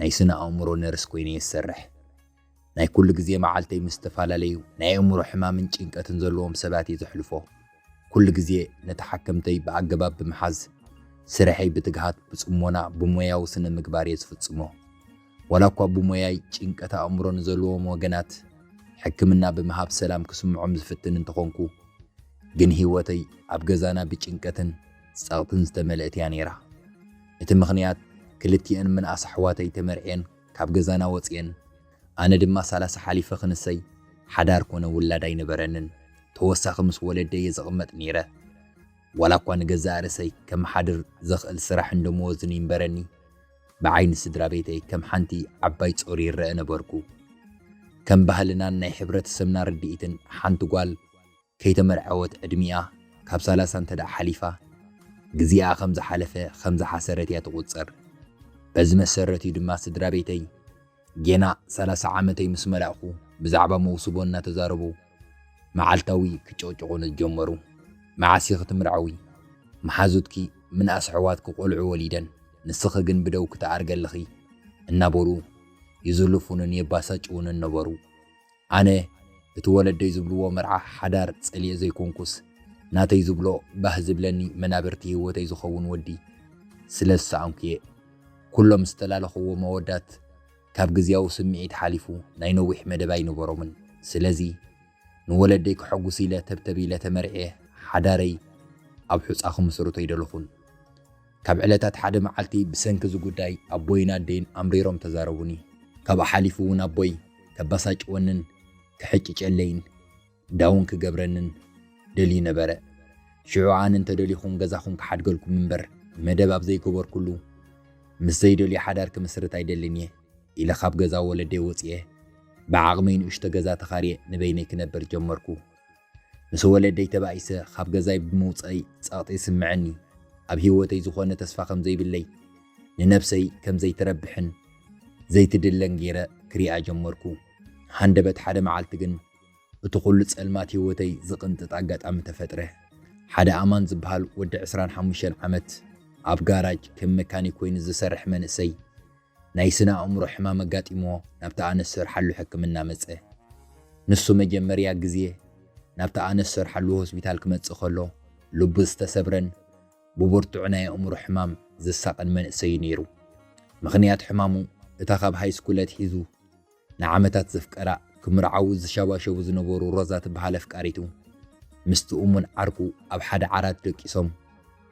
ናይ ስነ ኣእምሮ ነርስ ኮይነ እየ ዝሰርሕ። ናይ ኩሉ ግዜ መዓልተይ ምስ ዝተፈላለዩ ናይ ኣእምሮ ሕማምን ጭንቀትን ዘለዎም ሰባት እየ ዘሕልፎ። ኩሉ ግዜ ንተሓከምተይ ብኣገባብ ብምሓዝ፣ ስርሐይ ብትግሃት፣ ብጽሞና፣ ብሞያዊ ስነ ምግባር እየ ዝፍጽሞ። ዋላ እኳ ብሞያይ ጭንቀት ኣእምሮ ንዘለዎም ወገናት ሕክምና ብምሃብ ሰላም ክስምዖም ዝፍትን እንተኾንኩ ግን ህይወተይ ኣብ ገዛና ብጭንቀትን ጸቕጥን ዝተመልእት እያ ነይራ። እቲ ምኽንያት ክልቲኤን ምንኣስ ኣሕዋተይ ተመርዕየን ካብ ገዛና ወጺኤን ኣነ ድማ ሰላሳ ሓሊፈ ክንሰይ ሓዳር ኮነ ውላድ ኣይነበረንን ተወሳኺ ምስ ወለደይ እየ ዝቕመጥ ነይረ ዋላ እኳ ንገዛእ ርእሰይ ከመሓድር ዘኽእል ስራሕን ደመወዝን ይንበረኒ ብዓይኒ ስድራቤተይ ከም ሓንቲ ዓባይ ጾር ይረኣ ነበርኩ። ከም ባህልናን ናይ ሕብረተሰብና ርድኢትን ሓንቲ ጓል ከይተመርዐወት ዕድሚኣ ካብ ሰላሳ እንተ ደኣ ሓሊፋ፣ ግዜኣ ከም ዝሓለፈ ከም ዝሓሰረት እያ ትቑጸር። በዚ መሰረት እዩ ድማ ስድራቤተይ ጌና ሰላሳ ዓመተይ ምስ መላእኩ ብዛዕባ መውስቦ እናተዛረቡ መዓልታዊ ክጭቕጭቑኒ ዝጀመሩ። መዓስ ኢኺ ትምርዐዊ? መሓዙትኪ ምንኣስ ኣሕዋትኪ ቆልዑ ወሊደን፣ ንስኺ ግን ብደውኪ ትኣርጊ ኣለኺ እናበሉ ይዝልፉንን የባሳጭዉንን ነበሩ። ኣነ እቲ ወለደይ ዝብልዎ መርዓ ሓዳር ጸልኤ ዘይኮንኩስ፣ ናተይ ዝብሎ ባህ ዝብለኒ መናብርቲ ህይወተይ ዝኸውን ወዲ ስለ ዝሰኣንኩ'የ። ኩሎም ዝተላለኹዎም ኣወዳት ካብ ግዝያዊ ስምዒት ሓሊፉ ናይ ነዊሕ መደብ ኣይነበሮምን። ስለዚ ንወለደይ ከሐጉስ ኢለ ተብተብ ኢለ ተመርዕየ ሓዳረይ ኣብ ሑጻ ክምስርቶ ኣይደለኹን። ካብ ዕለታት ሓደ መዓልቲ ብሰንኪ እዚ ጉዳይ ኣቦይን ኣደይን ኣምሪሮም ተዛረቡኒ። ካብኡ ሓሊፉ እውን ኣቦይ ከበሳጭወንን ክሕጭጨለይን ዳውን ክገብረንን ደልዩ ነበረ። ሽዑ ኣነ እንተደሊኹም ገዛኹም ክሓድገልኩም እምበር መደብ ኣብ ዘይገበርኩሉ ምስ ዘይደልዮ ሓዳር ክምስርት ኣይደልን እየ ኢለ ካብ ገዛ ወለደይ ወጺኤ ብዓቕመይ ንእሽቶ ገዛ ተኻርየ ንበይነይ ክነብር ጀመርኩ። ምስ ወለደይ ተባኢሰ ኻብ ገዛይ ብምውጸእይ ጸቕጢ ይስምዐኒ። ኣብ ህይወተይ ዝዀነ ተስፋ ኸም ዘይብለይ፣ ንነፍሰይ ከም ዘይትረብሕን ዘይትድለን ገይረ ክሪኣ ጀመርኩ። ሃንደበት ሓደ መዓልቲ ግን፣ እቲ ዅሉ ጸልማት ህይወተይ ዝቕንጥጥ ኣጋጣሚ ተፈጥረ። ሓደ ኣማን ዚብሃል ወዲ ዕስራን ሓሙሽተን ዓመት፣ ኣብ ጋራጅ ከም መካኒክ ኰይኑ ዚሰርሕ መንእሰይ፣ ናይ ስነ ኣእምሮ ሕማም ኣጋጢምዎ ናብታ ኣነ ዝሰርሓሉ ሕክምና መጸ። ንሱ መጀመርያ ግዜ ናብታ ኣነ ዝሰርሓሉ ሆስፒታል ክመጽእ ከሎ ልቡ ዝተሰብረን ብብርቱዕ ናይ ኣእምሮ ሕማም ዝሳቐን መንእሰይ'ዩ ነይሩ። ምኽንያት ሕማሙ እታ ካብ ሃይስኩል ኣትሒዙ ንዓመታት ዘፍቀራ ክምርዓዉ ዝሸባሸቡ ዝነበሩ ሮዛ ትበሃል ኣፍቃሪቱ ምስቲ እሙን ዓርኩ ኣብ ሓደ ዓራት ደቂሶም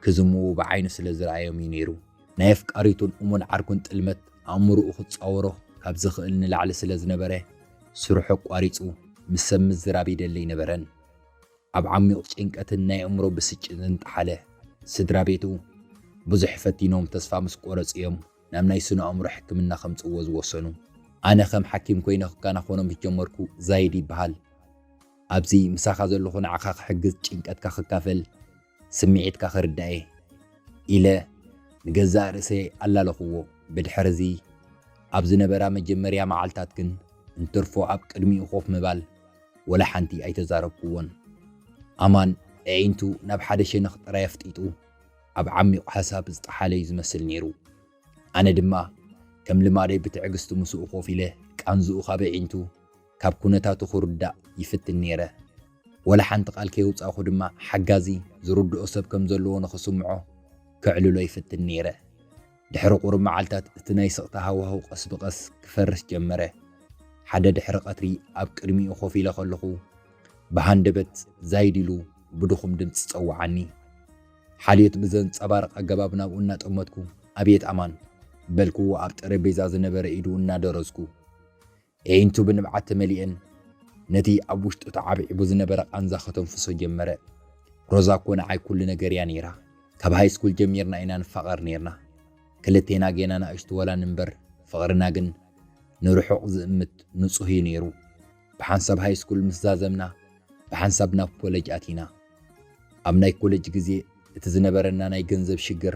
ክዝምዉ ብዓይኑ ስለ ዝረኣዮም እዩ ነይሩ። ናይ ኣፍቃሪቱን እሙን ዓርኩን ጥልመት ኣእምሩኡ ክጻወሮ ካብ ዝኽእል ንላዕሊ ስለ ዝነበረ ስርሑ ኣቋሪጹ ምስ ሰብ ምዝራብ ይደሊ ኣይነበረን። ኣብ ዓሚቝ ጭንቀትን ናይ ኣእምሮ ብስጭትን ጠሓለ። ስድራቤቱ ብዙሕ ፈቲኖም ተስፋ ምስ ቆረጹ እዮም ናብ ናይ ስነ-ኣእምሮ ሕክምና ከምጽእዎ ዝወሰኑ። ኣነ ከም ሓኪም ኮይነ ክከናኸኖ ምስ ጀመርኩ ዛይድ ይበሃል። ኣብዚ ምሳኻ ዘለኹ ንዓኻ ክሕግዝ ጭንቀትካ ክካፈል ስምዒትካ ክርዳእ'የ ኢለ ንገዛእ ርእሰይ ኣላለኹዎ። ብድሕር'ዚ ኣብ ዝነበራ መጀመርያ መዓልታት ግን እንትርፎ ኣብ ቅድሚኡ ኮፍ ምባል ወላ ሓንቲ ኣይተዛረብኩዎን። ኣማን ኣዒንቱ ናብ ሓደ ሸነኽ ጥራይ ኣፍጢጡ። ኣብ ዓሚቝ ሓሳብ ዝጠሓለ እዩ ዝመስል ነይሩ። ኣነ ድማ ከም ልማደይ ብትዕግስቲ ምስኡ ኮፍ ኢለ ቃንዝኡ ካብ ኣዒንቱ፣ ካብ ኩነታቱ ክርዳእ ይፍትን ነይረ። ወላ ሓንቲ ቃል ከየውጻእኩ ድማ ሓጋዚ፣ ዝርድኦ ሰብ ከም ዘለዎ ንኽስምዖ ከዕልሎ ይፍትን ነይረ። ድሕሪ ቁሩብ መዓልታት እቲ ናይ ስቕታ ሃዋህው ቀስ ብቐስ ክፈርስ ጀመረ። ሓደ ድሕሪ ቀትሪ ኣብ ቅድሚኡ ኮፍ ኢለ ከለኹ ብሃንደበት ዛይድ ኢሉ ብድኹም ድምጺ ጸውዓኒ። ሓልዮት ብዘንጸባርቕ ኣገባብ ናብኡ እናጠመትኩ፣ ኣቤት ኣማን! በልኩዎ ኣብ ጠረጴዛ ዝነበረ ኢዱ እናደረዝኩ። ኤዒንቱ ብንብዓት ተመሊኤን ነቲ ኣብ ውሽጡ ተዓብዒቡ ዝነበረ ቃንዛ ከተንፍሶ ጀመረ። ሮዛ እኮ ንዓይ ኩሉ ነገርያ ነይራ። ካብ ሃይስኩል ጀሚርና ኢና ንፋቐር ነይርና። ክልቴና ጌና ናእሽቱ ወላ ንንበር፣ ፍቕርና ግን ንርሑቕ ዝእምት ንጹህ'ዩ ነይሩ። ብሓንሳብ ሃይስኩል ምስ ዛዘምና ብሓንሳብ ናብ ኮለጅ ኣቲና። ኣብ ናይ ኮለጅ ግዜ እቲ ዝነበረና ናይ ገንዘብ ሽግር፣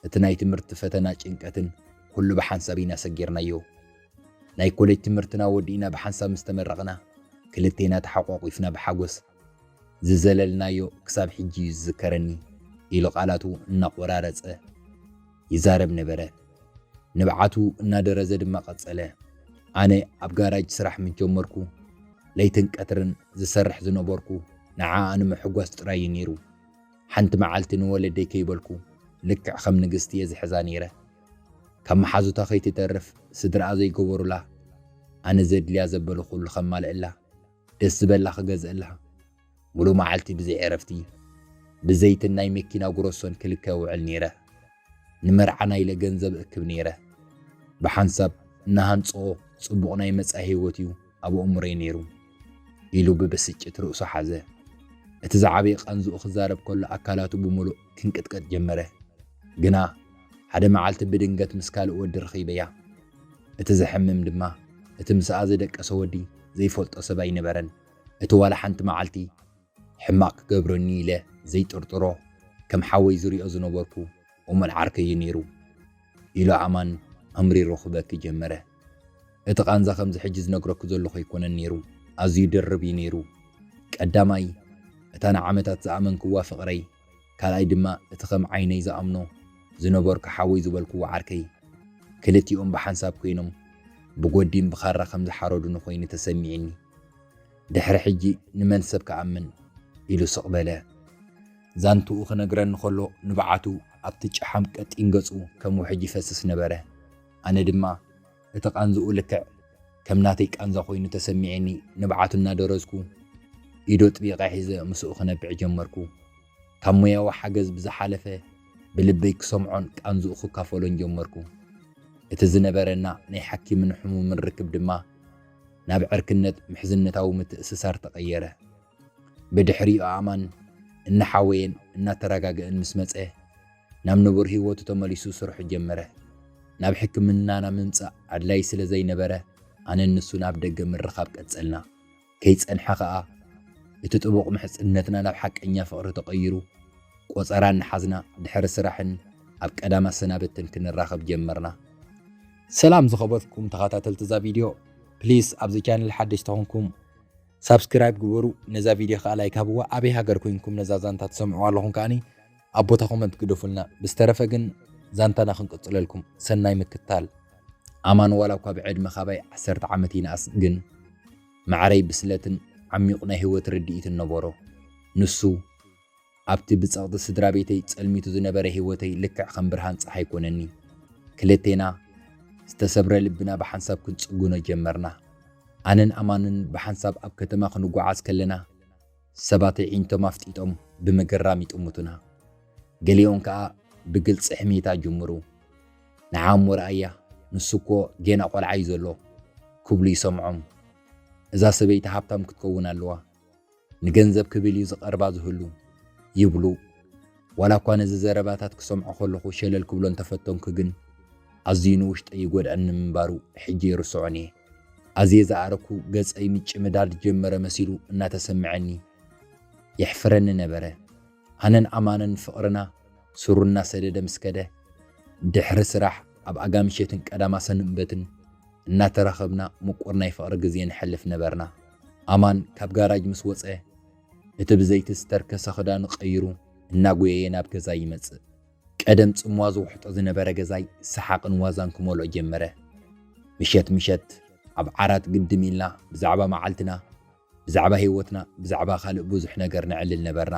እቲ ናይ ትምህርቲ ፈተና ጭንቀትን ኩሉ ብሓንሳብ ኢና ሰጊርናዮ። ናይ ኮለጅ ትምህርትና ወዲእና ብሓንሳብ ምስ ተመረቕና ክልቴና ተሓቋቊፍና ብሓጎስ ዝዘለልናዮ ክሳብ ሕጂ እዩ ዝዝከረኒ ኢሉ ቃላቱ እናቖራረጸ ይዛረብ ነበረ። ንብዓቱ እናደረዘ ድማ ቀጸለ፣ ኣነ ኣብ ጋራጅ ስራሕ ምስ ጀመርኩ ለይትን ቀትርን ዝሰርሕ ዝነበርኩ ንዓኣ ንምሕጓስ ጥራይ እዩ ነይሩ። ሓንቲ መዓልቲ ንወለደይ ከይበልኩ ልክዕ ከም ንግስቲ እየ ዝሕዛ ነይረ። ካብ መሓዙታ ከይትተርፍ ስድራኣ ዘይገበሩላ ኣነ ዘድልያ ዘበለ ኩሉ ከማልእላ። ደስ ዝበላ ክገዝእልሃ ሙሉእ መዓልቲ ብዘይ ዕረፍቲ ብዘይትን ናይ መኪና ጉረሶን ክልከ እውዕል ነይረ። ንመርዓና ኢለ ገንዘብ እክብ ነይረ። ብሓንሳብ እንሃንፅኦ ፅቡቕ ናይ መፃኢ ህይወት እዩ ኣብ ኣእምሮይ ነይሩ ኢሉ ብብስጭት ርእሱ ሓዘ። እቲ ዝዓበየ ቃንዝኡ ክዛረብ ከሎ ኣካላቱ ብሙሉእ ክንቅጥቀጥ ጀመረ። ግና ሓደ መዓልቲ ብድንገት ምስ ካልእ ወዲ ረኺበያ። እቲ ዘሕምም ድማ እቲ ምስኣ ዝደቀሰ ወዲ ዘይፈልጦ ሰብ ኣይነበረን። እቲ ዋላ ሓንቲ መዓልቲ ሕማቕ ክገብረኒ'ዩ ኢለ ዘይጥርጥሮ ከም ሓወይ ዝሪኦ ዝነበርኩ እሙን ዓርከይ'ዩ ነይሩ። ኢሉ ኣማን ኣምሪሩ ክበኪ ጀመረ። እቲ ቃንዛ ከምዚ ሕጂ ዝነግረኪ ዘለኹ ኣይኮነን ነይሩ ኣዝዩ ድርብ'ዩ ነይሩ። ቀዳማይ እታ ንዓመታት ዝኣመንክዋ ፍቕረይ ካልኣይ ድማ እቲ ከም ዓይነይ ዝኣምኖ ዝነበርኩ ሓወይ ዝበልክዎ ዓርከይ፣ ክልቲኦም ብሓንሳብ ኮይኖም ብጎዲም ብኻራ ከም ዝሓረዱኒ ኮይኑ ተሰሚዒኒ። ድሕሪ ሕጂ ንመን ሰብ ክኣምን? ኢሉ ስቕ በለ። ዛንትኡ ክነግረኒ ከሎ ንብዓቱ ኣብቲ ጨሓም ቀጢን ገጹ ከም ውሕጅ ይፈስስ ነበረ። ኣነ ድማ። እቲ ቃንዝኡ ልክዕ ከም ናተይ ቃንዛ ኮይኑ ተሰሚዒኒ ንብዓቱ እናደረዝኩ ኢዱ ኣጥቢቐ ሒዘ ምስኡ ክነብዕ ጀመርኩ። ካብ ሞያዊ ሓገዝ ብዝሓለፈ ብልበይ ክሰምዖን ቃንዝኡ ክካፈሎን ጀመርኩ። እቲ ዝነበረና ናይ ሓኪምን ሕሙምን ርክብ ድማ ናብ ዕርክነት ምሕዝነታዊ ምትእስሳር ተቐየረ። ብድሕሪኡ ኣእማን እናሓወየን እናተረጋገእን ምስ መጸ፣ ናብ ንቡር ህይወቱ ተመሊሱ ስርሑ ጀመረ። ናብ ሕክምናና ምምጻእ ኣድላዪ ስለ ዘይነበረ፣ ኣነን ንሱን ኣብ ደገ ምርኻብ ቀጸልና። ከይጸንሐ ኸኣ፣ እቲ ጥቡቕ ምሕጽነትና ናብ ሓቀኛ ፍቕሪ ተቐይሩ፣ ቆጸራ እናሓዝና ድሕሪ ስራሕን ኣብ ቀዳም ኣሰናብትን ክንራኸብ ጀመርና። ሰላም ዝኸበርኩም ተኻታተልቲ እዛ ቪድዮ ፕሊስ ኣብዚ ቻነል ሓደሽቲ ኮንኩም ሳብስክራይብ ግበሩ ነዛ ቪድዮ ከኣ ላይክ ሃብዋ ኣበይ ሃገር ኮንኩም ነዛ ዛንታ ትሰምዕዋ ኣለኹም ከኣኒ ኣብ ቦታ ኮመንት ግደፉልና ብዝተረፈ ግን ዛንታና ክንቅጽለልኩም ሰናይ ምክታል ኣማን ዋላ እኳ ብዕድመ ካባይ ዓሰርተ ዓመት ይንኣስ ግን ማዕረይ ብስለትን ዓሚቝ ናይ ህይወት ርድኢትን ነበሮ ንሱ ኣብቲ ብጸቕጢ ስድራ ቤተይ ጸልሚቱ ዝነበረ ህይወተይ ልክዕ ከም ብርሃን ጸሓይ ኮነኒ ክልቴና ዝተሰብረ ልብና ብሓንሳብ ክንጽግኖ ጀመርና ኣነን ኣማንን ብሓንሳብ ኣብ ከተማ ክንጓዓዝ ከለና ሰባት ኣዒንቶም ኣፍጢጦም ብምግራም ይጥምቱና፣ ገሊኦም ከኣ ብግልጺ ሕሜታ ይጅምሩ። ንዓ እሞ ርኣያ፣ ንሱ እኮ ጌና ቆልዓ እዩ ዘሎ፣ ክብሉ ይሰምዖም። እዛ ሰበይቲ ሃብታም ክትከውን ኣለዋ፣ ንገንዘብ ክብል እዩ ዝቐርባ ዝህሉ፣ ይብሉ። ዋላ እኳ ነዚ ዘረባታት ክሰምዖ ከለኹ ሸለል ክብሎ እንተፈተንኩ ግን፣ ኣዝዩ ንውሽጠይ ይጎድኣኒ ምንባሩ ሕጂ ኣይርስዖን እየ። ኣዜ ዝኣረኩ ገጸይ ምጭምዳድ ጀመረ መሲሉ እናተሰምዐኒ የሕፍረኒ ነበረ። ኣነን ኣማንን ፍቕርና ሱሩ እናሰደደ ምስ ከደ፣ ድሕሪ ስራሕ ኣብ ኣጋምሸትን ቀዳማ ሰኑንበትን እናተራኸብና ምቁር ናይ ፍቕሪ ግዜ ነሕልፍ ነበርና። ኣማን ካብ ጋራጅ ምስ ወጸ፣ እቲ ብዘይቲ ዝተርከሰ ክዳኑ ቀይሩ እናጎየየ ናብ ገዛይ ይመጽእ። ቀደም ጽምዋ ዝውሕጦ ዝነበረ ገዛይ ሰሓቕን ዋዛን ክመልኦ ጀመረ። ምሸት ምሸት ኣብ ዓራት ግድም ኢልና ብዛዕባ መዓልትና፣ ብዛዕባ ህይወትና፣ ብዛዕባ ካልእ ብዙሕ ነገር ነዕልል ነበርና።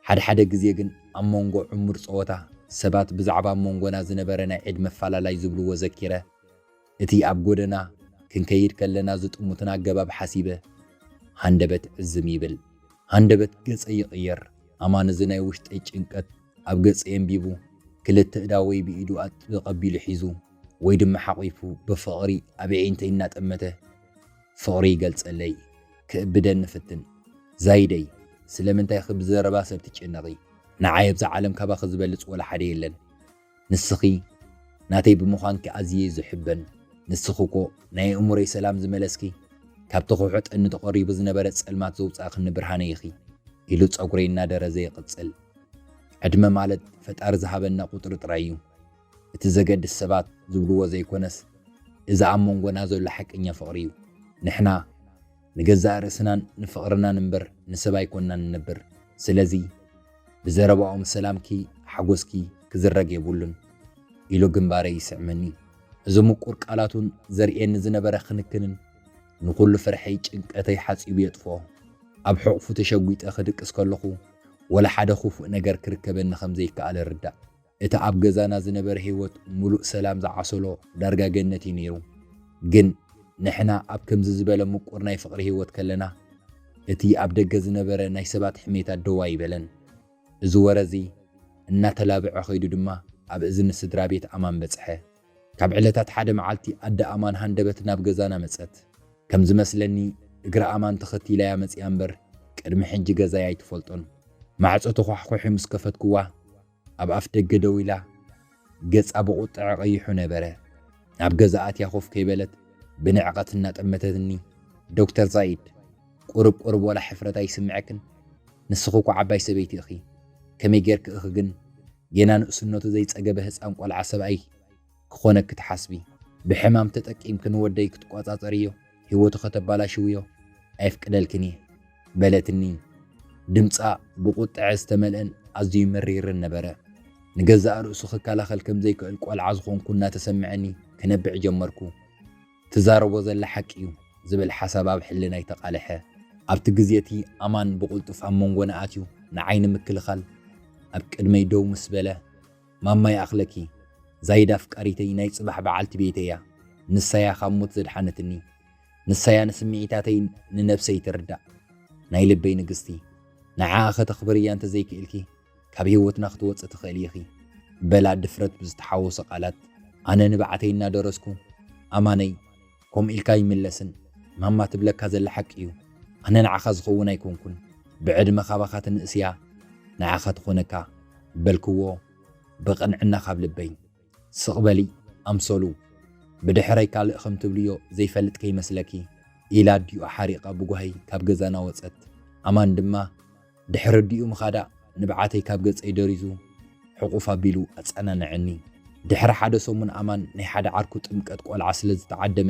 ሓድሓደ ግዜ ግን ኣብ መንጎ ዕሙር ጸወታ፣ ሰባት ብዛዕባ ኣብ መንጎና ዝነበረ ናይ ዕድመ ኣፈላላይ ዝብልዎ ዘኪረ፣ እቲ ኣብ ጎደና ክንከይድ ከለና ዝጥሙትና ኣገባብ ሓሲበ፣ ሃንደበት ዕዝም ይብል፣ ሃንደበት ገጸይ ይቕየር፣ ኣማን እዚ ናይ ውሽጠይ ጭንቀት ኣብ ገጸይ ኣንቢቡ፣ ክልተ እዳወይ ብኢዱ ኣጥብቕ ኣቢሉ ሒዙ ወይ ድማ ሓቚፉ ብፍቕሪ ኣብ የዒንተይ እናጠመተ ፍቕሪ ይገልጸለይ፣ ክእብደኒ ፍትን። ዛይደይ! ስለምንታይኺ ብዘረባ ሰብ ትጭነቒ? ንዓይ ኣብዛ ዓለም ካባኺ ዝበልጽ ወላ ሓደ የለን። ንስኺ ናተይ ብምዃንኪ ኣዝየ ዝሕበን ንስኺ እኮ ናይ ኣእምሮይ ሰላም ዝመለስኪ ካብቲ ክውሑ ጠኒ ተቆሪቡ ዝነበረ ጸልማት ዘውጻእክኒ ብርሃነይ ኢኺ ኢሉ ጸጉረይ እናደረዘ ይቕጽል ዕድመ ማለት ፈጣሪ ዝሃበና ቁጽሪ ጥራይ እዩ እቲ ዘገድስ ሰባት ዝብልዎ ዘይኮነስ እዚ ኣብ መንጎና ዘሎ ሓቀኛ ፍቕሪ እዩ ንሕና ንገዛእ ርእስናን ንፍቕርናን እምበር ንሰብ ኣይኮናን ንነብር ስለዚ ብዘረባኦም ሰላምኪ ሓጎስኪ ክዝረግ የብሉን ኢሉ ግንባረይ ይስዕመኒ እዚ ምቁር ቃላቱን ዘርእየኒ ዝነበረ ክንክንን ንኹሉ ፍርሐይ ጭንቀተይ ሓጺቡ የጥፍኦ ኣብ ሕቑፉ ተሸጒጠ ክድቅስ ከለኹ ወላ ሓደ ክፉእ ነገር ክርከበኒ ከም ዘይከኣል እርዳእ እቲ ኣብ ገዛና ዝነበረ ህይወት ምሉእ ሰላም ዝዓሰሎ ዳርጋ ገነት እዩ ነይሩ። ግን ንሕና ኣብ ከምዚ ዝበለ ምቁር ናይ ፍቕሪ ህይወት ከለና እቲ ኣብ ደገ ዝነበረ ናይ ሰባት ሕሜታ ደው ኣይበለን። እዚ ወረ እዚ እናተላብዐ ከይዱ ድማ ኣብ እዝኒ ስድራ ቤት ኣማን በጽሐ። ካብ ዕለታት ሓደ መዓልቲ ኣደ ኣማን ሃንደበት ናብ ገዛና መጸት። ከም ዝመስለኒ እግሪ ኣማን ተኸቲላ'ያ መጺኣ እምበር ቅድሚ ሕጂ ገዛይ ኣይትፈልጦን። ማዕጾ ተዃሕዂሒ ምስ ከፈትኩዋ ኣብ ኣፍደገ ደው ኢላ፣ ገጻ ብቝጥዐ ቐይሑ ነበረ። ናብ ገዛኣ ኣትያ ኮፍ ከይበለት ብንዕቐት እናጠመተትኒ፣ ዶክተር ዛይድ፣ ቍሩብ ቍሩብ ዋላ ሕፍረት ኣይስምዐክን? ንስኺ እኮ ዓባይ ሰበይቲ እኺ። ከመይ ጌርኪ እኺ ግን ጌና ንእስነቱ ዘይጸገበ ህጻን ቈልዓ ሰብኣይ፣ ክኾነኪ ትሓስቢ ብሕማም ተጠቂምኪ ንወደይ ክትቆጻጸርዮ ሂወቱ ከተባላሽውዮ ኣየፍቅደልክን እየ በለትኒ ድምጻ ብቁጥዐ ዝተመልእን ኣዝዩ መሪርን ነበረ ንገዛእ ርእሱ ክከላኸል ከምዘይክእል ቆልዓ ዝኾንኩ እናተሰመዐኒ ክነብዕ ጀመርኩ ትዛረቦ ዘላ ሓቂ እዩ ዝብል ሓሳብ ኣብ ሕልናይ ተቃለሐ ኣብቲ ግዜ እቲ ኣማን ብቁልጡፍ ኣብ መንጎና ኣትዩ ንዓይ ንምክልኻል ኣብ ቅድመይ ደው ምስ በለ። ማማ ይኣኽለኪ ዛይድ ኣፍቃሪተይ ናይ ጽባሕ በዓልቲ ቤተይ'ያ ንሳ'ያ ካብ ሞት ዘድሓነትኒ ንሳ'ያ ንስምዒታተይ ንነብሰይ ትርዳእ ናይ ልበይ ንግስቲ ንዓኣ ከተኽብርያ እንተ ዘይክኢልኪ ካብ ሂወትና ክትወጽኢ ትኽእሊ ኢኺ በላ ድፍረት ብዝተሓወሶ ቃላት ኣነ ንብዓተይ እናደረስኩ ኣማነይ ከምኡ ኢልካ ኣይምለስን ማማ ትብለካ ዘላ ሓቂ ዩ ኣነ ንዓካ ዝከውን ኣይኮንኩን ብዕድመ ካባካ ትንእስ እያ ንዓካ ትኮነካ በልክዎ ብቅንዕና ካብ ልበይ ስቅ በሊ ኣምሰሉ ብድሕረይ ካልእ ከም ትብልዮ ዘይፈልጥ ከይመስለኪ ኢላ ኣዲኡ ሓሪቃ ብጓሂ ካብ ገዛና ወጸት ኣማን ድማ ድሕሪ ኣዲኡ ምኻዳ ንብዓተይ ካብ ገጸይ ደሪዙ ሕቑፍ ኣቢሉ ኣጸናንዐኒ። ድሕሪ ሓደ ሰሙን ኣማን ናይ ሓደ ዓርኩ ጥምቀት ቆልዓ ስለ ዝተዓደመ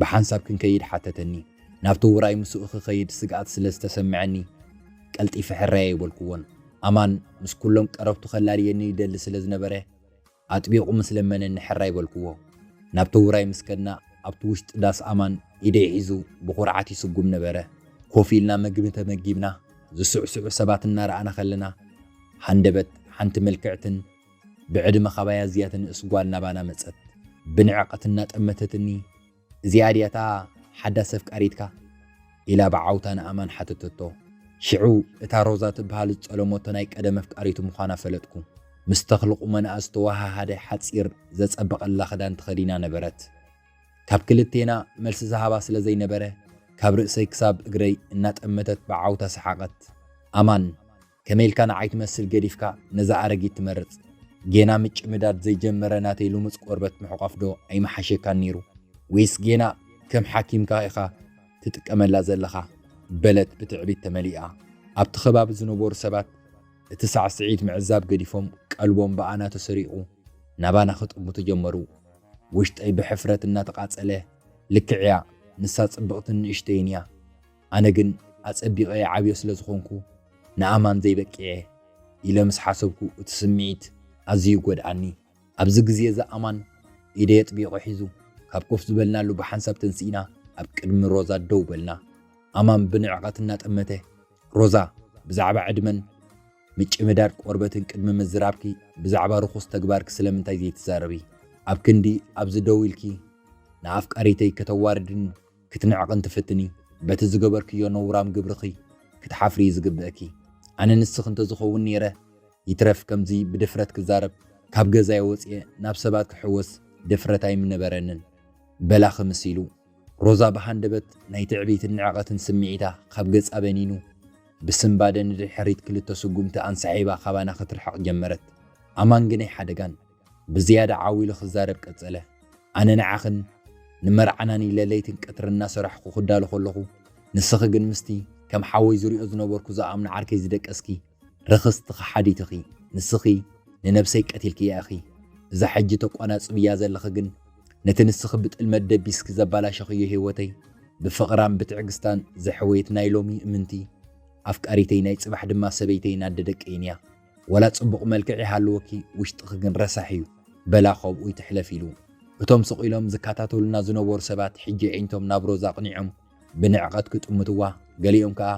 ብሓንሳብ ክንከይድ ሓተተኒ። ናብቲ ውራይ ምስኡ ክኸይድ ስግኣት ስለ ዝተሰምዐኒ ቀልጢፈ ሕራየ ኣይበልኩዎን። ኣማን ምስ ኩሎም ቀረብቱ ከላልየኒ ይደሊ ስለ ዝነበረ፣ ኣጥቢቑ ምስ ለመነኒ ሕራይ በልኩዎ። ናብቲ ውራይ ምስ ከድና፣ ኣብቲ ውሽጢ ዳስ ኣማን ኢደይ ሒዙ ብኹርዓት ይስጉም ነበረ። ኮፍ ኢልና መግቢ ተመጊብና፣ ዝስዕስዑ ሰባት እናረኣና ከለና፣ ሃንደበት ሓንቲ ምልክዕትን ብዕድመ ካባይ ኣዝያ ትንእስ ጓል ናባና መጸት። ብንዕቐት እናጠመተትኒ፣ እዚኣ ድያ እታ ሓዳስ ኣፍቃሪትካ? ኢላ ብዓውታ ንኣማን ሓተተቶ። ሽዑ እታ ሮዛ ትብሃል ዝጠለሞቶ ናይ ቀደም ኣፍቃሪቱ ምዃና ፈለጥኩ። ምስ ተኽሊ ቁመናኣ ዝተወሃሃደ ሓጺር ዘጸበቐላ ክዳን ተኸዲና ነበረት። ካብ ክልቴና መልሲ ዝሃባ ስለ ዘይነበረ ካብ ርእሰይ ክሳብ እግረይ እናጠመተት ብዓውታ ሰሓቐት። ኣማን! ከመይ ኢልካ ንዓይ ትመስል ገዲፍካ ነዛ ኣረጊት ትመርጽ? ጌና ምጭምዳድ ዘይጀመረ ናተይ ልሙጽ ቆርበት ምሕቋፍ ዶ ኣይምሓሸካን ነይሩ? ወይስ ጌና ከም ሓኪምካ ኢኻ ትጥቀመላ ዘለኻ? በለት ብትዕቢት ተመሊኣ። ኣብቲ ከባቢ ዝነበሩ ሰባት እቲ ሳዕስዒት ምዕዛብ ገዲፎም ቀልቦም ብኣና ተሰሪቑ ናባና ክጥምቱ ጀመሩ። ውሽጠይ ብሕፍረት እናተቓጸለ ልክዕ'ያ ንሳ ጽብቕትን ንእሽተይን እያ። ኣነ ግን ኣጸቢቐ ይዓብዮ ስለ ዝኾንኩ ንኣማን ዘይበቂዐ ኢለ ምስ ሓሰብኩ እቲ ስምዒት ኣዝዩ ይጎድኣኒ። ኣብዚ ግዜ እዚ ኣማን ኢደይ ኣጥቢቑ ሒዙ ካብ ኮፍ ዝበልናሉ ብሓንሳብ ተንሲእና ኣብ ቅድሚ ሮዛ ደው በልና። ኣማን ብንዕቐት እናጠመተ ሮዛ ብዛዕባ ዕድመን ምጭምዳድ ቆርበትን ቅድሚ ምዝራብኪ ብዛዕባ ርኹስ ተግባርኪ ስለምንታይ ዘይትዛረቢ? ኣብ ክንዲ ኣብዚ ደው ኢልኪ ንኣፍቃሪተይ ከተዋርድኒ ክትንዕቒ እንትፍትኒ በቲ ዝገበርክዮ ነውራም ግብርኺ ክትሓፍሪ እዩ ዝግብእኪ። ኣነ ንስኺ እንተዝኸውን ነይረ ይትረፍ ከምዚ ብድፍረት ክዛረብ ካብ ገዛይ ወጽየ ናብ ሰባት ክሕወስ ድፍረት ኣይምነበረንን በላ ክምስ ኢሉ። ሮዛ ብሃንደበት ናይ ትዕቢትን ንዕቐትን ስምዒታ ካብ ገጻ በኒኑ ብስንባደ ንድሕሪት ክልተ ስጉምቲ ኣንሳሒባ ካባና ክትርሕቕ ጀመረት። ኣማን ግናይ ሓደጋን። ብዝያዳ ዓው ኢሉ ክዛረብ ቀጸለ። ኣነ ንዓኽን ንመርዓናን ኢለ ለይትን ቀትርን እናሰራሕኩ ክዳሎ ከለኹ፣ ንስኺ ግን ምስቲ ከም ሓወይ ዝሪኦ ዝነበርኩ ዝኣምኖ ዓርከይ ዝደቀስኪ ርኽስቲ ከሓዲት እኺ። ንስኺ ንነብሰይ ቀቲልክያ እኺ። እዛ ሕጂ ተቆናጽብያ ዘለኺ ግን ነቲ ንስኺ ብጥልመት ደቢስኪ ዘባላሸኽዮ ህይወተይ ብፍቕራን ብትዕግስታን ዘሕወየት ናይ ሎሚ እምንቲ ኣፍቃሪተይ ናይ ጽባሕ ድማ ሰበይተይን ኣደ ደቀይንያ። ዋላ ጽቡቕ መልክዕ ይሃልወኪ ውሽጥኺ ግን ረሳሕ እዩ በላ ከምኡ ይትሕለፍ ኢሉ። እቶም ስቕ ኢሎም ዝከታተሉና ዝነበሩ ሰባት ሕጂ ኣዒንቶም ናብ ሮዛ ኣቕኒዖም ብንዕቐት ክጥምትዋ ገሊኦም ከኣ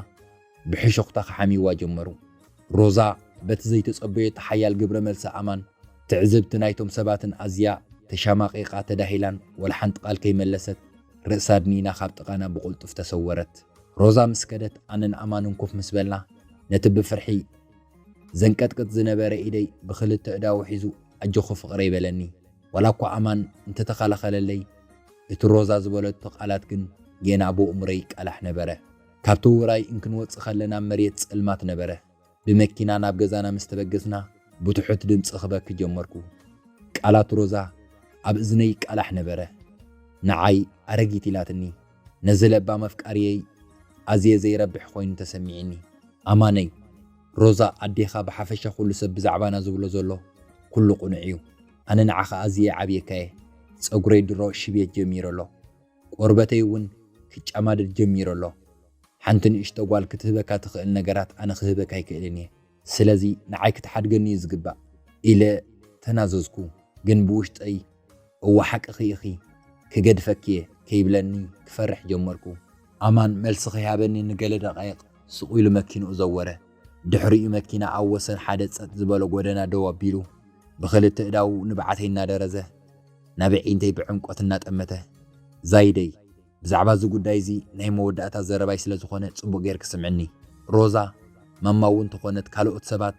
ብሕሹኽታ ክሓምይዋ ጀመሩ። ሮዛ በቲ ዘይተጸበየቶ ሓያል ግብረ መልሲ ኣማን ትዕዝብቲ ናይቶም ሰባትን ኣዝያ ተሻማቒቓ ተዳሂላን ዋላ ሓንቲ ቃል ከይመለሰት ርእሳ ኣድኒና ካብ ጥቓና ብቕልጡፍ ተሰወረት። ሮዛ ምስ ከደት ኣነን ኣማንን ኮፍ ምስ በልና ነቲ ብፍርሒ ዘንቀጥቅጥ ዝነበረ ኢደይ ብኽልተ እዳዉ ሒዙ ኣጆኺ ፍቕረይ በለኒ። ዋላ እኳ ኣማን እንተተኸላኸለለይ እቲ ሮዛ ዝበለቶ ቃላት ግን ጌና ኣብ ኣእምሮይ ይቃላሕ ነበረ። ካብቲ ዉራይ እንክንወጽእ ከለና መሬት ጸልማት ነበረ። ብመኪና ናብ ገዛና ምስ ተበገስና ብትሑት ድምጺ ክበኪ ጀመርኩ። ቃላት ሮዛ ኣብ እዝነይ ይቃላሕ ነበረ። ንዓይ ኣረጊት ኢላትኒ። ነዚ ለባም ኣፍቃርየይ ኣዝየ ዘይረብሕ ኮይኑ ተሰሚዒኒ። ኣማነይ፣ ሮዛ ኣዴኻ ብሓፈሻ ኩሉ ሰብ ብዛዕባና ዝብሎ ዘሎ ኩሉ ቁኑዕ እዩ። ኣነ ንዓኻ ኣዝየ ዓብየካየ። ጸጉረይ ድሮ ሽብየት ጀሚሩ ኣሎ። ቆርበተይ ውን ክጫማደድ ጀሚሩ ኣሎ። ሓንቲ ንእሽቶ ጓል ክትህበካ ትኽእል ነገራት ኣነ ክህበካ ኣይክእልን እየ። ስለዚ ንዓይ ክትሓድገኒ እዩ ዝግባእ ኢለ ተናዘዝኩ፣ ግን ብውሽጠይ እወ ሓቅኺ ኢኺ ክገድፈኪ እየ ከይብለኒ ክፈርሕ ጀመርኩ። ኣማን መልሲ ከይሃበኒ ንገለ ደቓይቕ ሱቕ ኢሉ መኪንኡ ዘወረ። ድሕሪኡ መኪና ኣብ ወሰን ሓደ ጸጥ ዝበሎ ጎደና ደው ኣቢሉ ብኽልተ ኣእዳዉ ንብዓተይ እናደረዘ ናብ ኣዒንተይ ብዕምቆት እናጠመተ፣ ዛይደይ! ብዛዕባ እዚ ጉዳይ እዚ ናይ መወዳእታ ዘረባይ ስለ ዝኾነ ጽቡቕ ጌርኪ ስምዕኒ ሮዛ፣ ማማ እውን ተኾነት ካልኦት ሰባት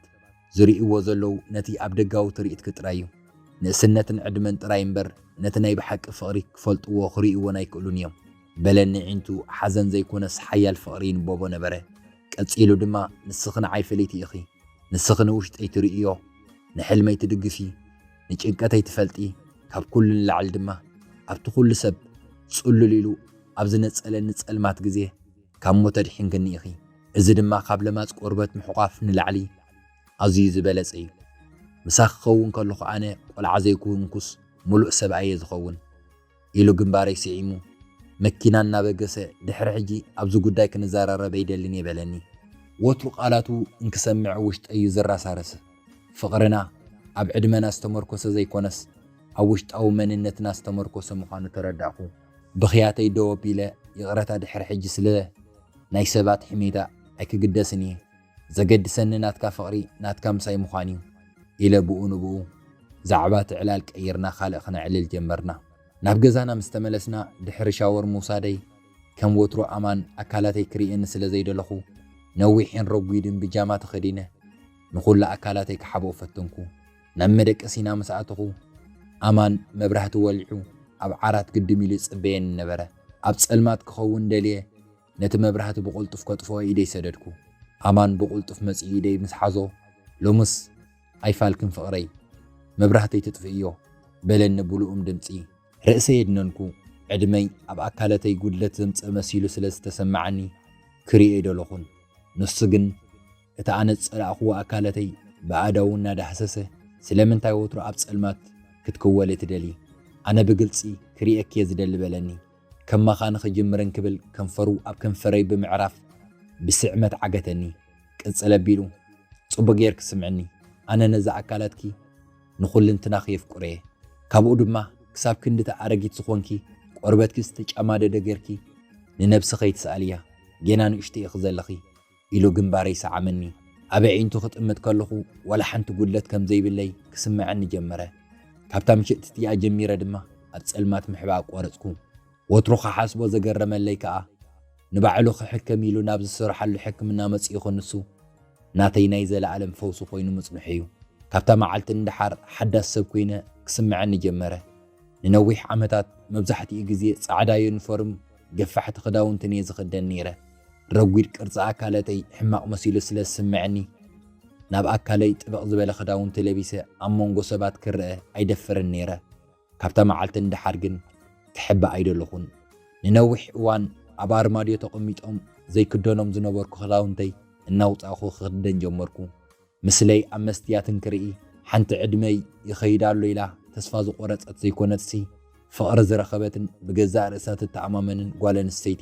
ዝርእይዎ ዘለዉ ነቲ ኣብ ደጋዊ ትርኢትኪ ጥራይ እዩ። ንእስነትን ዕድመን ጥራይ እምበር ነቲ ናይ ብሓቂ ፍቕሪ ክፈልጥዎ ክርእይዎን ኣይክእሉን እዮም። በለኒ ኣዒንቱ ሓዘን ዘይኮነስ ሓያል ፍቕሪ ይንበቦ ነበረ። ቀጺሉ ድማ ንስኺ ንዓይ ፍልይቲ ኢኺ። ንስኺ ንውሽጠይ ትርእይዮ፣ ንሕልመይ ትድግፊ። ንጭንቀተይ ትፈልጢ ካብ ኩሉ ንላዕሊ ድማ ኣብቲ ኩሉ ሰብ ጽሉል ኢሉ ኣብ ዝነጸለኒ ጸልማት ግዜ ካብ ሞት ኣድሒንክኒ ኢኺ እዚ ድማ ካብ ለማጽ ቆርበት ምሕቋፍ ንላዕሊ ኣዝዩ ዝበለጸ እዩ ምሳኺ ክኸውን ከለኹ ኣነ ቆልዓ ዘይኩንኩስ ሙሉእ ሰብ ኣየ ዝኸውን ኢሉ ግንባረይ ስዒሙ መኪና እናበገሰ ድሕሪ ሕጂ ኣብዚ ጉዳይ ክንዘራረብ ኣይደልን እየ በለኒ። ወትሩ ቃላቱ እንክሰምዕ ውሽጠይ እዩ ዝረሳረስ። ፍቕርና ኣብ ዕድመና ዝተመርኮሰ ዘይኮነስ ኣብ ውሽጣዊ መንነትና ዝተመርኮሰ ምዃኑ ተረዳእኩ። ብኽያተይ ደው ኣቢለ ይቕረታ ድሕሪ ሕጂ ስለ ናይ ሰባት ሕሜታ ኣይክግደስን እየ። ዘገድሰኒ ናትካ ፍቕሪ ናትካ ምሳይ ምዃን እዩ ኢለ ብኡ ንብኡ ዛዕባ እቲ ዕላል ቀይርና ካልእ ክነዕልል ጀመርና። ናብ ገዛና ምስ ተመለስና ድሕሪ ሻወር ምውሳደይ ከም ወትሩ ኣማን ኣካላተይ ክርእየኒ ስለ ዘይደለኹ ነዊሕን ረጒድን ብጃማ ተኸዲነ ንኹሉ ኣካላተይ ክሓብኦ ፈተንኩ። ናብ መደቀሲና ምስ ኣተኹ ኣማን መብራህቲ ወሊዑ ኣብ ዓራት ግድም ኢሉ ይጽበየኒ ነበረ። ኣብ ጸልማት ክኸውን ደልየ ነቲ መብራህቲ ብቕልጡፍ ከጥፍኦ ኢደይ ሰደድኩ። ኣማን ብቕልጡፍ መጺኡ ኢደይ ምስ ሓዞ፣ ሎምስ ኣይፋልክን ፍቕረይ፣ መብራህተይ ትጥፍእዮ፣ በለኒ ብልኡም ድምጺ። ርእሰይ ኣድነንኩ። ዕድመይ ኣብ ኣካለተይ ጉድለት ዘምጽእ መሲሉ ስለ ዝተሰመዓኒ ክርእዮ ኣይደለኹን። ንሱ ግን እቲ ኣነ ዝጸላእክዎ ኣካለተይ ብኣእዳዉ እናዳህሰሰ፣ ስለምንታይ ወትሩ ኣብ ጸልማት ክትክወሊ ትደልዪ? ኣነ ብግልጺ ክርእየኪ'የ ዝደሊ በለኒ። ከማኻ ንኽጅምር እንክብል ከንፈሩ ኣብ ከንፈረይ ብምዕራፍ ብስዕመት ዓገተኒ። ቅጽል ኣቢሉ፣ ጽቡቕ ጌርኪ ስምዕኒ፣ ኣነ ነዛ ኣካላትኪ ንኹልንትናኺ የፍቅሮ'የ። ካብኡ ድማ ክሳብ ክንድ'ታ ኣረጊት ዝኾንኪ ቆርበትኪ ዝተጨማደደ ጌርኪ ንነብሲ ከይትስኣልያ፣ ጌና ንእሽቶ ኢኺ ዘለኺ፣ ኢሉ ግንባረይ ሰዓመኒ። ኣብ ኣዒንቱ ክጥምት ከለኹ ዋላ ሓንቲ ጉድለት ከም ዘይብለይ ክስመዐኒ ጀመረ። ካብታ ምሽት እቲኣ ጀሚረ ድማ ኣብ ጸልማት ምሕባእ ኣቋረጽኩ። ወትሩ ክሓስቦ ዘገረመለይ ከኣ ንባዕሉ ክሕከም ኢሉ ናብ ዝስርሓሉ ሕክምና መጺኡ ክንሱ ናተይ ናይ ዘለኣለም ፈውሲ ኮይኑ ምጽንሑ'ዩ። ካብታ መዓልቲ ንደሓር ሓዳስ ሰብ ኮይነ ክስመዐኒ ጀመረ። ንነዊሕ ዓመታት መብዛሕትኡ ግዜ ጻዕዳ ዩኒፎርም፣ ገፋሕቲ ክዳውንትን እየ ዝኽደን ነይረ። ረጒድ ቅርጺ ኣካለተይ ሕማቕ መሲሉ ስለ ዝስምዐኒ፣ ናብ ኣካለይ ጥብቕ ዝበለ ክዳውንቲ ለቢሰ ኣብ መንጎ ሰባት ክረኣ ኣይደፍርን ነይረ። ካብታ መዓልቲ ንደሓር ግን ክሕባእ ኣይደለኹን። ንነዊሕ እዋን ኣብ ኣርማድዮ ተቐሚጦም ዘይክደኖም ዝነበርኩ ክዳውንተይ እናውጻእኩ ክኽደን ጀመርኩ። ምስለይ ኣብ መስትያት እንክርኢ ሓንቲ ዕድመይ ይኸይድ ኣሎ ኢላ ተስፋ ዝቖረጸት ዘይኮነትሲ ፍቕሪ ዝረኸበትን ብገዛእ ርእሳ ትተኣማመንን ጓል ኣንስተይቲ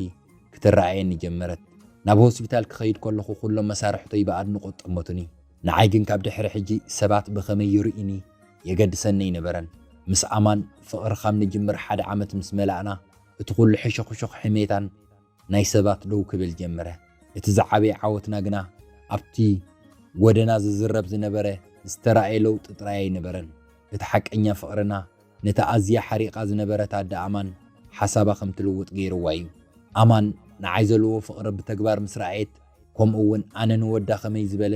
ክትረኣየኒ ጀመረት። ናብ ሆስፒታል ክኸይድ ከለኹ ኩሎም መሳርሕቶይ ብኣድንቖት ጠመቱኒ። ንዓይ ግን ካብ ድሕሪ ሕጂ ሰባት ብኸመይ ይርእዩኒ የገድሰኒ ኣይነበረን። ምስ ኣማን ፍቕሪ ካብ ንጅምር ሓደ ዓመት ምስ መላእና እቲ ኩሉ ሕሹኽሹኽ ሕሜታን ናይ ሰባት ደው ክብል ጀመረ። እቲ ዝዓበየ ዓወትና ግና ኣብቲ ጐደና ዝዝረብ ዝነበረ ዝተራእየ ለውጢ ጥራይ ኣይነበረን። እቲ ሓቀኛ ፍቕርና ነታ ኣዝያ ሓሪቓ ዝነበረት ኣደ ኣማን ሓሳባ ከም ትልውጥ ገይርዋ እዩ። ኣማን ንዓይ ዘለዎ ፍቕሪ ብተግባር ምስ ረኣየት ከምኡ'ውን ኣነ ንወዳ ከመይ ዝበለ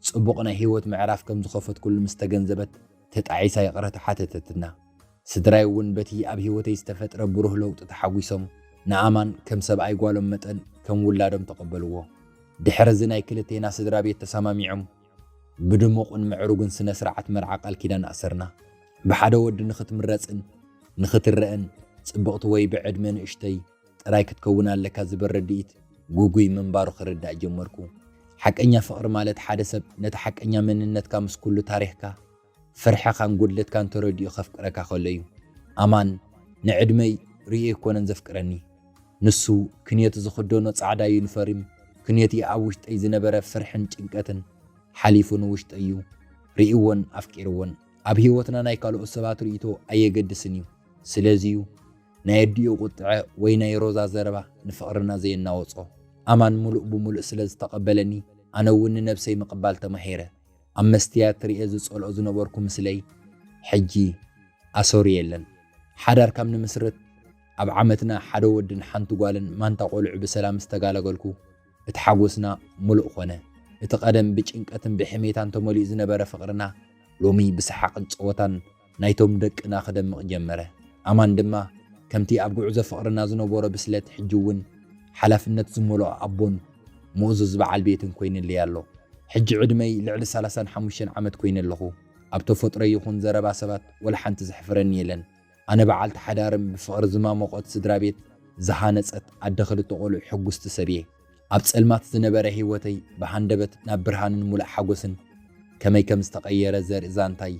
ጽቡቕ ናይ ህይወት ምዕራፍ ከም ዝኸፈትኩሉ ምስ ተገንዘበት፣ ተጣዒሳ ይቕረታ ሓተተትና። ስድራይ እውን በቲ ኣብ ህይወተይ ዝተፈጥረ ብሩህ ለውጢ ተሓጒሶም ንኣማን ከም ሰብኣይ ጓሎም መጠን ከም ውላዶም ተቐበልዎ። ድሕሪ እዚ ናይ ክልቴና ስድራ ቤት ተሰማሚዖም ብድሙቕን ምዕሩግን ስነ ስርዓት መርዓ ቃል ኪዳን ኣሰርና። ብሓደ ወዲ ንኽትምረጽን ንኽትረእን ጽብቕቲ ወይ ብዕድመ ንእሽተይ፣ ጥራይ ክትከውን ኣለካ ዝበል ርድኢት ጉጉይ ምንባሩ ክርዳእ ጀመርኩ። ሓቀኛ ፍቕሪ ማለት ሓደ ሰብ ነቲ ሓቀኛ መንነትካ ምስ ኩሉ ታሪኽካ፣ ፍርሕኻን ጉድለትካን ተረዲኡ ከፍቅረካ ከሎ እዩ። ኣማን ንዕድመይ ርእዩ ኣይኮነን ዘፍቅረኒ። ንሱ ክንዮቲ ዝኽደኖ ጻዕዳ ዩኒፈርም፣ ክንዮቲ ኣብ ውሽጠይ ዝነበረ ፍርሕን ጭንቀትን ሓሊፉ ንውሽጠይ እዩ ርእይዎን ኣፍቂርዎን። ኣብ ህይወትና ናይ ካልኦት ሰባት ርእይቶ ኣየገድስን እዩ። ስለዚ እዩ። ናይ ኣዲኡ ቁጥዐ ወይ ናይ ሮዛ ዘረባ ንፍቕርና ዘየናወጾ። ኣማን ምሉእ ብምሉእ ስለ ዝተቐበለኒ ኣነ እውን ንነብሰይ ምቕባል ተማሂረ። ኣብ መስትያት ርእየ ዝጸልኦ ዝነበርኩ ምስለይ ሕጂ ኣሰሩ የለን። ሓዳር ካብ ንምስርት ኣብ ዓመትና ሓደ ወድን ሓንቲ ጓልን ማንታ ቆልዑ ብሰላም ምስ ተጋላገልኩ እቲ ሓጎስና ምሉእ ኮነ። እቲ ቀደም ብጭንቀትን ብሕሜታን ተመሊኡ ዝነበረ ፍቕርና ሎሚ ብሰሓቕን ጸወታን ናይቶም ደቅና ክደምቕ ጀመረ። ኣማን ድማ ከምቲ ኣብ ጉዕዞ ፍቕርና ዝነበሮ ብስለት ሕጂ እውን ሓላፍነት ዝመልኦ ኣቦን ምእዙዝ በዓል ቤትን ኮይንለይ ኣሎ። ሕጂ ዕድመይ ልዕሊ ሰላሳን ሓሙሽተን ዓመት ኮይነ ኣለኹ። ኣብ ተፈጥሮይ ይኹን ዘረባ ሰባት ወላ ሓንቲ ዘሕፍረኒ የለን። ኣነ በዓልቲ ሓዳርን ብፍቕሪ ዝማሞቖት ስድራ ቤት ዝሃነጸት ኣደ ክልተ ቆልዑ ሕጉስቲ ሰብ እየ። ኣብ ጸልማት ዝነበረ ህይወተይ ብሃንደበት ናብ ብርሃንን ሙሉእ ሓጎስን ከመይ ከም ዝተቐየረ ዘርኢ ዛንታይ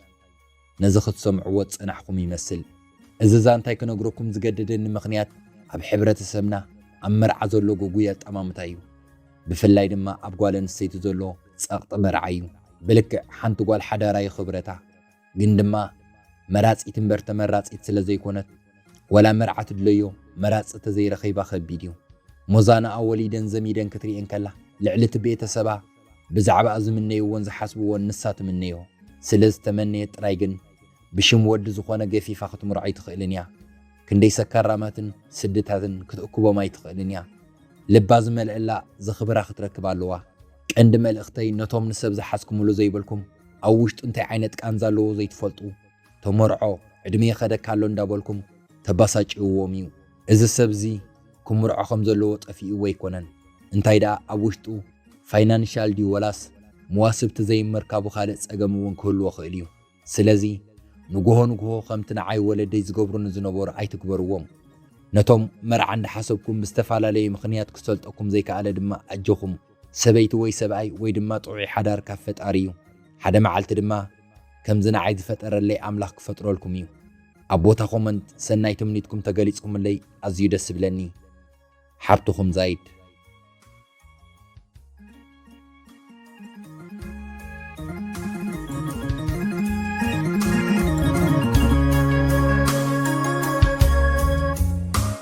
ነዚ ክትሰምዕዎ ዝጸናሕኩም ይመስል። እዚ ዛንታይ ክነግረኩም ዝገደደኒ ምኽንያት ኣብ ሕብረተሰብና ኣብ መርዓ ዘሎ ግጉይ ኣጠማምታ እዩ። ብፍላይ ድማ ኣብ ጓል ኣንስተይቲ ዘሎ ጸቕጢ መርዓ እዩ። ብልክዕ ሓንቲ ጓል ሓዳራ እዩ ክብረታ። ግን ድማ መራጺት እምበር ተመራጺት ስለ ዘይኮነት ዋላ መርዓ ትድለዮ መራጺ ተዘይረኺባ ከቢድ እዩ። ሞዛናኣ ወሊደን ዘሚደን ክትርኤ እንከላ ልዕሊ እቲ ቤተሰባ ብዛዕባኣ ዝምነይዎን ዝሓስብዎን ንሳ ትምነዮ ስለ ዝተመነየት ጥራይ ግን ብሽም ወዲ ዝኾነ ገፊፋ ክትምርዖ ኣይትኽእልን እያ። ክንደይ ሰካራማትን ስድታትን ክትእክቦም ኣይትኽእልን እያ። ልባ ዝመልእላ ዘኽብራ ክትረክብ ኣለዋ። ቀንዲ መልእኽተይ ነቶም ንሰብ ዝሓዝኩምሉ ዘይበልኩም ኣብ ውሽጡ እንታይ ዓይነት ቃንዛ ኣለዎ ዘይትፈልጡ፣ ተመርዖ ዕድመ ይኸደካ ኣሎ እንዳበልኩም ተባሳጭውዎም እዩ እዚ ሰብ እዚ ክምርዖ ከም ዘለዎ ጠፊእዎ ኣይኮነን እንታይ ደኣ ኣብ ውሽጡ ፋይናንሻል ድዩ ወላስ መዋስብቲ ዘይምርካቡ ካልእ ጸገም እውን ክህልዎ ክእል እዩ ስለዚ ንጉሆ ንጉሆ ከምቲ ንዓይ ወለደይ ዝገብሩኒ ዝነበሩ ኣይትግበርዎም ነቶም መርዓ እንዳሓሰብኩም ብዝተፈላለየ ምኽንያት ክሰልጠኩም ዘይከኣለ ድማ ኣጆኹም ሰበይቲ ወይ ሰብኣይ ወይ ድማ ጥዑይ ሓዳር ካብ ፈጣሪ እዩ ሓደ መዓልቲ ድማ ከምዚ ንዓይ ዝፈጠረለይ ኣምላኽ ክፈጥረልኩም እዩ። ኣብ ቦታ ኮመንት ሰናይ ትምኒትኩም ተገሊጽኩምለይ ኣዝዩ ደስ ይብለኒ። ሓብትኹም ዛይድ።